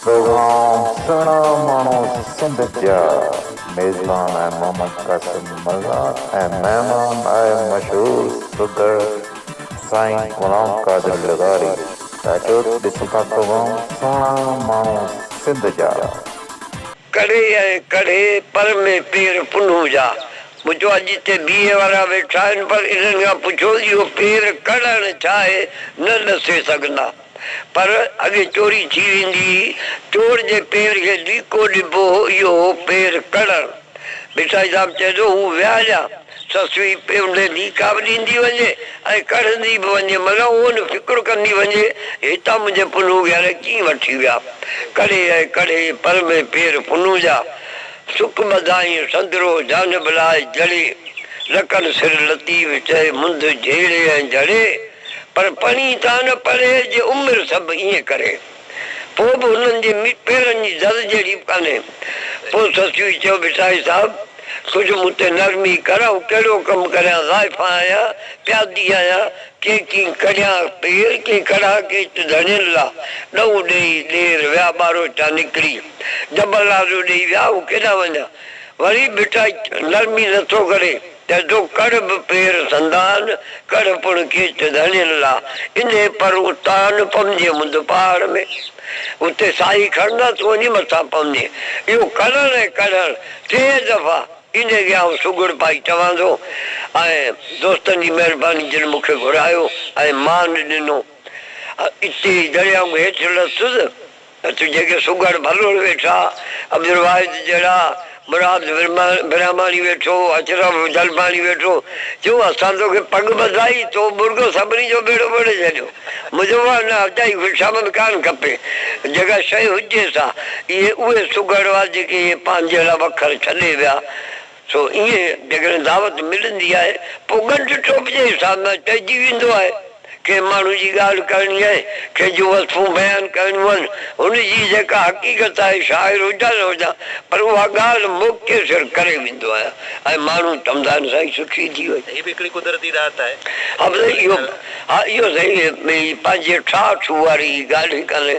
توهان سهڻا ماڻهو سنڌ جا. ميزبان آء محمد قاسم مرزا ۽ مهمان آء مشهور سگهڙ سائين غلام قادر لغاري. چاچو ڏس ٿا توهان سهڻا ماڻهو سنڌ جا. ڪڙهي ۽ ڪڙهي پر ۾ پير پنهون جا. ٻڌو آ جتي بي اي وارا ويٺا آهن پر انهن کان پڇو اهو پير ڪڙهڻ ڇا آهي نه ڏسي سگهندا. پر اڳي چوري ٿي ويندي هئي. چور جي پير کي ڏيڪو ڏبو هو، اهو هو پير ڪڙڻ. ڀٽائي صاحب چئي ٿو، هو ويا ڄا، سسوي پيونڊي ڏيڪا به ڏيندي وڃي ۽ ڪڙهندي به وڃي، مگر اهو نه فڪر ڪندي وڃي ته هتان منهنجي پنهونگيار ڪيئن وٺي ويا. ڪڙهي ۽ ڪڙهي، پر مين پير پنهون جا. سڪ ٻڌائين سندرو جانب لاء جڙي، لڪن سر لطيف چئي منڌ جهيڙي ۽ جهڙي. پر پڻي تان نه پرهيز جي عمر سڀ ائين ڪري پو به هنن جي پيرن جي زر جهڙي به ڪانهي پو سسوي چيو ڀٽائي صاحب ڪجهه مون تي نرمي ڪر آئون ڪهڙو ڪم ڪريان ضائفا آهيان پيادي آهيان ڪي ڪين ڪڙيان پير ڪين ڪڙها ڪيچ ڌڻين لا ڏئون ڏيئي ڏير ويا ٻاروچا نڪري ڊبل آرڊر ڏيئي ويا آئون ڪيڏانهن وڃان وري ڀٽائي نرمي نه ٿو ڪري. ته تو ڪڙهه به پير سندان، ڪڙهه پڻ ڪيچ ڌڻين لا، انهي پر اتان پمجي مند پهاڙ ۾، اتي ساهي کڻندان تون وڃي مٿان پمجين. اهو ڪڙهڻ ۽ ڪڙهڻ ٽي دفعا ايندي جي آئون سگهڙ پائي چوان ٿو ۽ دوستن جي مهرباني جن مون کي گهرايو ۽ مان ڏنو اتي ئي درياء ۾ هيٺ لٿس، ته جيڪي سگهڙ ڀلوڙ ويٺا، عبدالواحد جهڙا، مراد برهماڻي ويٺو، اشرف جلباڻي ويٺو، چيو اسان توکي پڳ ٻڌائي، تو ٻڙڪو سڀني جو ٻيڙو ٻوڙي ڇڏيو. منهنجو واهه نه اجائي خوشامد ڪانه کپي. جيڪا شيء هجيس ها، اهي اهي سگهڙ هئا جيڪي اهي پنهنجي لاء وکر ڇڏي ويا. سو ايئن جيڪڏهن دعوت ملندي آهي پوء ڳنڍ ٽوپ جي حساب سان چئجي ويندو آهي. ڪنهن ماڻهو جي ڳالهه ڪرڻي آهي، ڪنهن جون وصفون بيان ڪرڻيون آهن، هن جي جيڪا حقيقت آهي، شاعر هجان نه هجان پر اها ڳالهه موقعي سر ڪري ويندو آهيان ۽ ماڻهو چوندا آهن سائين سٺي ٿي وئي. هي به هڪڙي قدرتي ڏات آهي. ها سائين اهو ها اهو سائين پنهنجي ٺاهه ٺوهه واري ڳالهه ئي ڪانهي.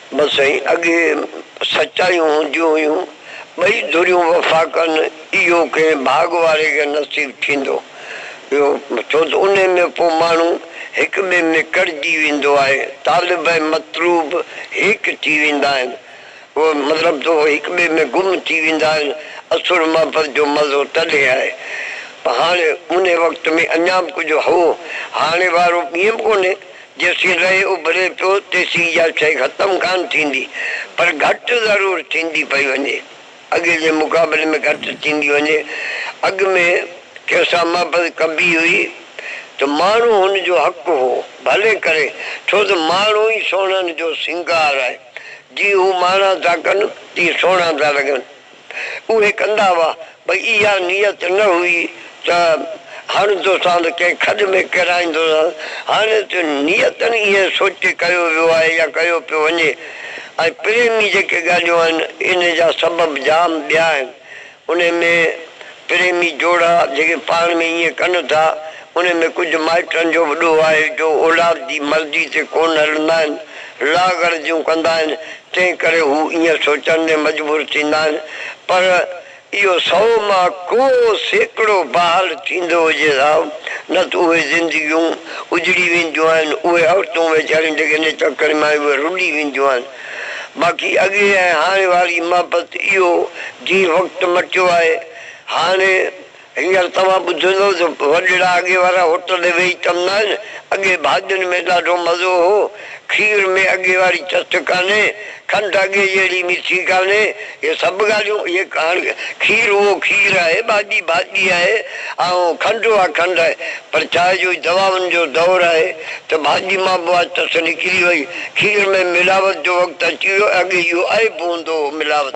بس سائين اڳي سچايون هونديون هيون ٻئي ڌريون وفا ڪن اهو ڪنهن ڀاڳ واري کي نصيب ٿيندو پيو ڇو ته انهي ۾ پو ماڻهو هڪ ٻئي ۾ ڪڙجي ويندو آهي طالب ۽ مطلوب هيڪ ٿي ويندا آهن اهو مطلب ته اهي هڪ ٻئي ۾ گم ٿي ويندا آهن اصل محبت جو مزو تڏهن آهي هاڻي انهي وقت ۾ اڃا به ڪجهه هو هاڻي وارو ٻيم ڪونهي. جيسين رئي اڀري پيو تيسين اها شيء ختم ڪانه ٿيندي پر گهٽ ضرور ٿيندي پئي وڃي. اڳي جي مقابلي ۾ گهٽ ٿيندي وڃي. اڳ ۾ ڪنهن سان محبت ڪبي هئي ته ماڻهو هن جو حق هو. ڀلي ڪري ڇو ته ماڻهو ئي سهڻن جو سينگار آهي. جيئن هو ماڻها ٿا ڪن تيئن سهڻا ٿا لڳن. اهي ڪندا هئا، پر اها نيت نه هئي ته هڻندوسانس، ڪنهن کڏ ۾ ڪيرائيندوسانس. هاڻي ته نيتن اهي سوچي ڪيو ويو آهي يا ڪيو پيو وڃي ۽ پريمي جيڪي ڳالهيون آهن، انهي جا سبب جام ٻيا آهن. انهي ۾ پريمي جوڙا جيڪي پاڻ ۾ ائين ڪن ٿا، انهي ۾ ڪجهه مائٽن جو به ڏوهه آهي، جو اولاد جي مرضي تي ڪونه هلندا آهن، لاغرضيون ڪندا آهن، تنهن ڪري هو ائين سوچڻ ۾ مجبور ٿيندا آهن، پر اهو سئو مان ڪو سيڪڙو بحال ٿيندو هجي ها، نه ته اهي زندگيون اجڙي وينديون آهن، اهي عورتون ويچاريون جيڪي نچ اکڙين مان آيون اهي رلي وينديون آهن. باقي اڳي ۽ هاڻي واري محبت اهو جيئي وقت مٽيو آهي هاڻي. هينئر توهان ٻڌندؤ ته وڏڙا اڳي وارا هوٽل تي ويهي ڪم نه آهن، اڳي ڀاڄين ۾ ڏاڍو مزو هو، کير ۾ اڳي واري چٽ ڪانهي، کنڊ اڳي جهڙي مٺي ڪانهي، اهي سڀ ڳالهيون اهي هاڻ کير اهو کير آهي، ڀاڄي ڀاڄي آهي، اهو کنڊ اها کنڊ آهي، پر چانهه جو دواون جو دور آهي ته ڀاڄي مان به اها چٽ نڪري وئي، کير ۾ ملاوت جو وقت اچي ويو، اڳي اهو عيب هوندو هو ملاوت.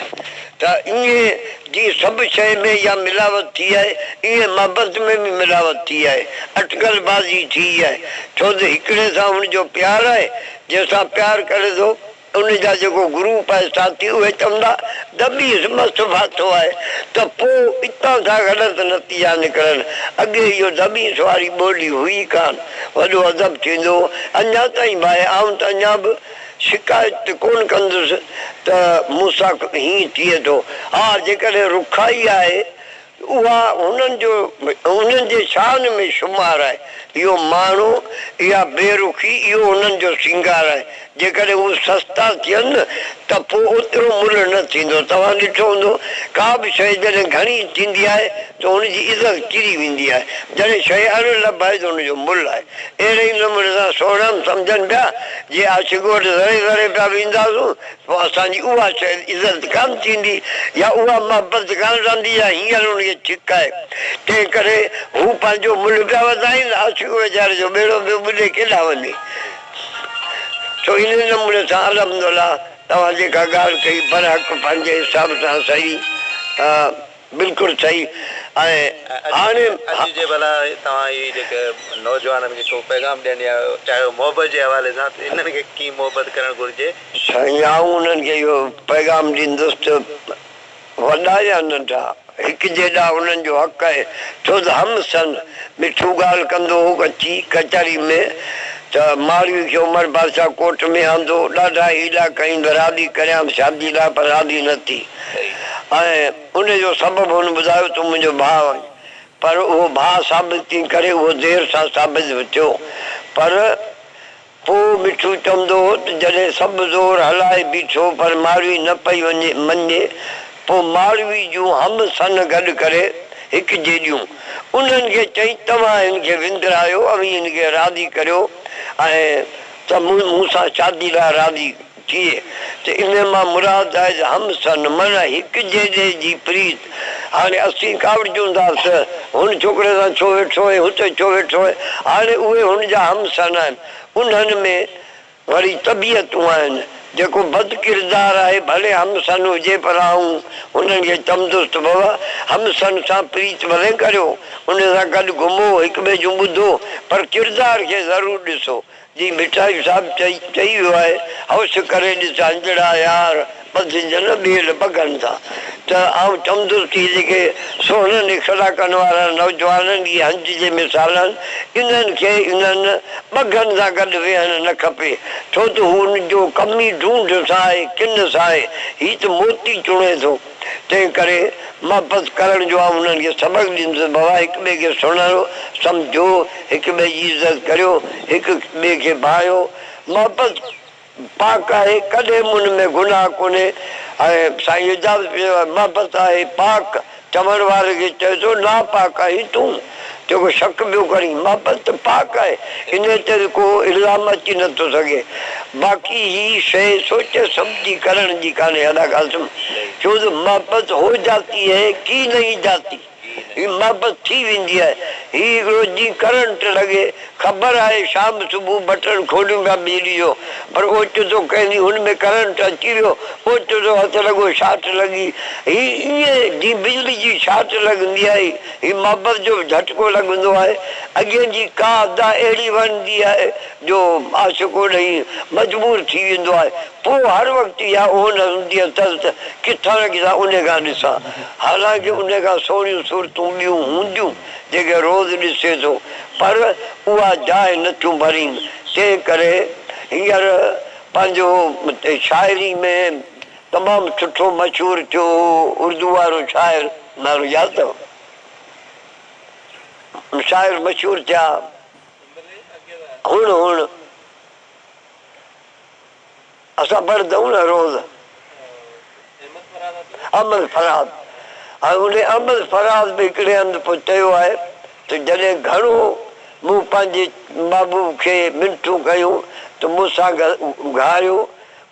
ته ايئن جيئن سڀ شيء ۾ اها ملاوت ٿي آهي، ايئن محبت ۾ به ملاوت ٿي آهي، اٽڪل بازي ٿي آهي، ڇو ته هڪڙي سان هن جو پيار آهي، جنهن سان پيار ڪري ٿو، ان جا جيڪو گروپ آهي ساٿي، اهي چوندا ته ٻيس مس ڦاٿو آهي، ته پوء اتان ٿا غلط نتيجا نڪرن، اڳي اهو دٻيس واري ٻولي هئي ڪانه، وڏو ادب ٿيندو هو، اڃا تائين ڀائي آئون ته اڃا به. شڪايت ڪونه ڪندس ته مون سان هيئن ٿئي ٿو. ها جيڪڏهن رکائي آهي اها هنن جو انهن جي شان ۾ شمار آهي. اهو مهڻو يا بي رخي اهو انهن جو سينگار آهي. جيڪڏهن هو سستا ٿين ته پوء اوترو ملهه نه ٿيندو. توهان ڏٺو هوندو ڪا به شيء جڏهن گهڻي ٿيندي آهي ته ان جي عزت ڪري ويندي آهي. جڏهن شيء اڻ لڀ آهي ته ان جو ملهه آهي. اهڙي ئي نموني سان سهڻا هم سمجهن پيا، جي آڇ ڳوٺ ذري ذري پيا وينداسون، پوء اسان جي اها شايد عزت ڪانه ٿيندي يا اها محبت ڪانه رهندي جا هينئر هن کي ڇڪ آهي. تنهن ڪري هو پنهنجو ملهه پيا وڌائين، آڇ ويچاري جو ٻيڙو پيو ٻڏي ڪيڏانهن وڃي. سو انهيء نموني سان الحمدالله توهان جيڪا ڳالهه ڪئي برحق پنهنجي حساب سان صحيح بلڪل صحيح ۽ هاڻي اڄ جي ڀلا توهان هي جيڪي نوجوانن کي ڪو پيغام ڏيڻ يا چاهيو محبت جي حوالي سان ته انهن کي ڪيئن محبت ڪرڻ گهرجي؟ سائين آئون انهن کي اهو پيغام ڏيندس ته وڏا يا ننڍا هڪ جيڏا انهن جو حق آهي ڇو ته هم سن مٺو ڳالهه ڪندو هو اچي ڪچهري ۾ ته ماڙوي کي عمر بادشاهه ڪوٽ ۾ آندو ڏاڍا هيلا ڪئين به راضي ڪريانس شادي لاء پر راضي نه ٿي ۽ ان جو سبب هن ٻڌايو تون منهنجو ڀاء آهين پر اهو ڀاء ثابت ڪين ڪري اهو دير سان ثابت به ٿيو پر پوء مٺو چوندو هو ته جڏهن سڀ زور هلائي بيٺو پر ماڙوي نه پئي وڃي مڃي پوء ماڙوي جون هم سن گڏ ڪري هڪ جيڏيون انهن کي چئي توهان هن کي وندرايو اوهين هن کي راضي ڪريو ۽ ته مون سان شادي لاء راضي ٿئي ته ان مان مراد آهي ته هم سن معنيٰ هڪ جيڏي جي پريت. هاڻي اسين ڪاوڙجون ٿا ته هن ڇوڪري سان ڇو ويٺو ۽ هتي ڇو ويٺو آهي؟ هاڻي اهي هن جا هم سن آهن. انهن ۾ وري طبيعتون آهن. جيڪو بد ڪردار آهي ڀلي هم سن هجي پر آئون انهن کي چوندس ته بابا هم سن سان پريت ڀلي ڪريو، ان سان گڏ گهمو، هڪٻئي جون ٻڌو پر ڪردار کي ضرور ڏسو. جي مٺائي صاحب چئي چئي ويو آهي هوش ڪري ڏس هنجڙا يار ٻڌ جن ٻيل ٻگهن سان ته آئون چوندس ته جيڪي سونهن نخرا ڪن وارن نوجوانن جي هنج جي مثال آهن انهن کي انهن ٻگهن سان گڏ ويهڻ نه کپي ڇو ته هو ان جو ڪمي ڍونڍ سان آهي ڪن سان آهي هي ته موتي چڻي ٿو. تنهن ڪري محبت ڪرڻ جو آئون انهن کي سبق ڏيندس ته بابا هڪ ٻئي کي سڃاڻو، سمجهو، هڪ ٻئي جي عزت ڪريو، هڪ ٻئي کي ڀانئيو. محبت پاڪ آهي، ڪڏهن به ان ۾ گناهه ڪونهي ۽ سائين اعجاز پير محبت آهي پاڪ، چوڻ واري کي چئجو ناپاڪ آهين تون. جيڪو شڪ پيو ڪرين، بابت ته پاڪ آهي، انهيء تي به ڪو الزام اچي نه ٿو سگهي. باقي هيء شيء سوچي سمجهي ڪرڻ جي ڪانهي ادا قاسم، ڇو جو محبت هو جاتي هي ڪي نهين جاتي. هي محبت ٿي ويندي آهي. هي هڪڙو جيئن ڪرنٽ لڳي. خبر آهي شام صبح بٽڻ کوليون پيا بجلي جو، پر اوچتو ڪنهن ڏينهن هن ۾ ڪرنٽ اچي ويو، اوچتو هٿ لڳو شارٽ لڳي. هي ائين جيئن بجلي جي شارٽ لڳندي آهي. هي محبت جو به جهٽڪو لڳندو آهي. اڳين جي ڪا ادا اهڙي وڻندي آهي جو عاشق اڏهي مجبور ٿي ويندو آهي. پوء هر وقت اها اونهه هوندي اٿس ته ڪٿان ڪٿان انهي کان ڏسان. حالانڪه انهي کان سهڻيون صورتون ٻيون هونديون جيڪي روز ڏسي ٿو پر اها جاء نه ٿيون ڀرين. تنهن ڪري هينئر پنهنجو شاعري ۾ تمام سٺو مشهور ٿيو هو اردو وارو شاعر نالو ياد اٿو شاعر مشهور ٿيا هڻ هڻ اسان پڙهندا آهيون نه روز احمد فرهاد هاڻي ان احمد فرهاد به هڪڙي هنڌ پوء چيو آهي ته جڏهن گهڻو مون پنهنجي محبوب کي منٿون ڪيون ته مون سان گهاريو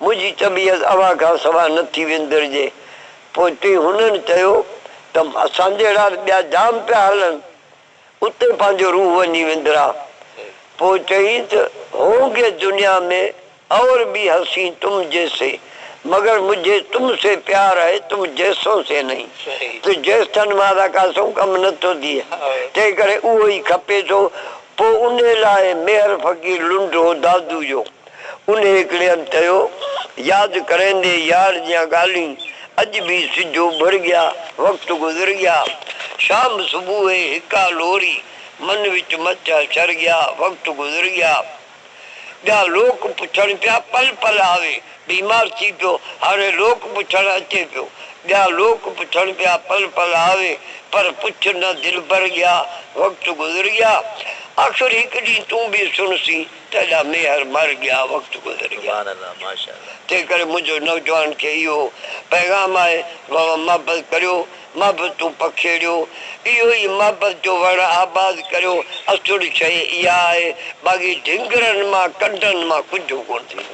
منهنجي طبيعت اوهان کان سواء نه ٿي وندرجي. پوء ٽي هنن چيو ته اسان جهڙا ته ٻيا جام پيا هلن، اتي پنهنجو روح وڃي وندرا. پوء چيائين ته هونگي دنيا مين اور ڀي حسين تم جيسي مگر مجهي تم سي پيار هي تم جيسون سي نهين ته جيس ٿن مارا ڪا سون ڪم نه ٿو ٿئي تنهن ڪري اهو ئي کپي ٿو. پوء انهي لاء ميهر فقير لنڊو دادو جو انهيء ڪڙين چيو، ياد ڪريندي يار جيان ڳالهين، اڄ به سج اڀر ڳيا، وقت گذر ڳيا، شام صبح هي هڪا لوري، من وچ مچ حشر ڳيا، وقت گذر ڳيا. ٻيا لوڪ پڇڻ پيا، پل پل آوي، بيمار ٿي پيو، هاڻي لوڪ پڇڻ اچي پيو. ٻيا لوڪ پڇڻ پيا، پل پل آوي، پر پڇ نه دلبر ڳيا، وقت گذر ڳيا. آخر هڪ ڏينهن تون به سڻسين. تيڏا ميهر مر ڳيا وقت گذر ڳيا تنهن ڪري منهنجو نوجوانن کي اهو پيغام آهي ووان محبت ڪريو محبتون پکيڙيو اهو ئي محبت جو وڻ آباد ڪريو اسٽڙ شيء اها آهي باقي ڍنگرن مان ڪنڊن مان ڪجهه ڪونه ٿيندو.